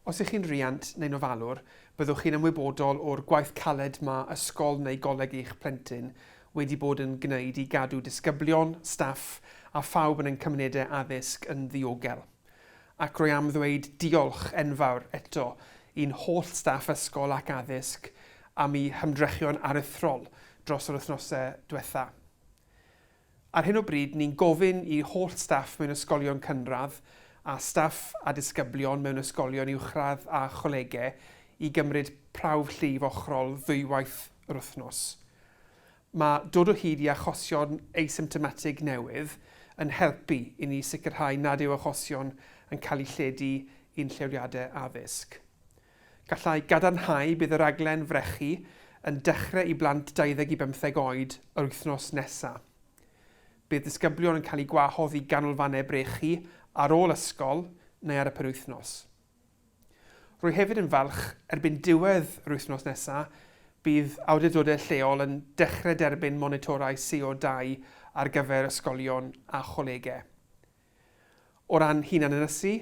Os ych chi'n riant neu'n ofalwr, byddwch chi'n ymwybodol o'r gwaith caled mae ysgol neu goleg eich plentyn wedi bod yn gwneud i gadw disgyblion, staff a phawb yn ein cymunedau addysg yn ddiogel. Ac rwy am ddweud diolch enfawr eto i'n holl staff ysgol ac addysg am eu hymdrechion aruthrol dros yr wythnosau diwetha'. Ar hyn o bryd, ni'n gofyn i holl staff mewn ysgolion cynradd a staff a disgyblion mewn ysgolion uwchradd a cholegau i gymryd prawf llif ochrol ddwywaith yr wythnos. Mae dod o hyd i achosion asymptomatig newydd yn helpu i ni sicrhau nad yw achosion yn cael eu lledu i'n lleoliadau addysg. Gallai gadarnhau bydd y rhaglen frechu yn dechrau i blant 20 i bymtheg oed yr wythnos nesa'. Bydd disgyblion yn cael eu gwahodd i ganolfannau brechu ar ôl ysgol neu ar y penwythnos. Rwy hefyd yn falch, erbyn diwedd yr wythnos nesa', bydd awdurdodau lleol yn dechrau derbyn monitorau CO2 ar gyfer ysgolion a cholegau. O ran hunanynysu,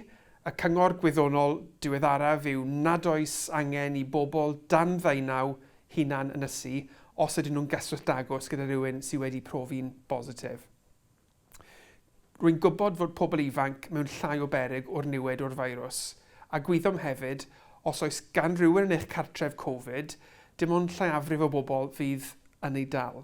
y cyngor gwyddonol diweddaraf yw nad oes angen i bobl dan ddeunaw hunan ynysu os ydyn nhw'n gyswllt agos gyda rhywun sydd wedi profi'n bositif. Rwy'n gwybod fod pobl ifanc mewn llai o beryg o'r niwed o'r feirws, a gwyddom hefyd, os oes gan rywun yn eich cartref Covid, dim ond lleiafrif o bobl fydd yn ei dal.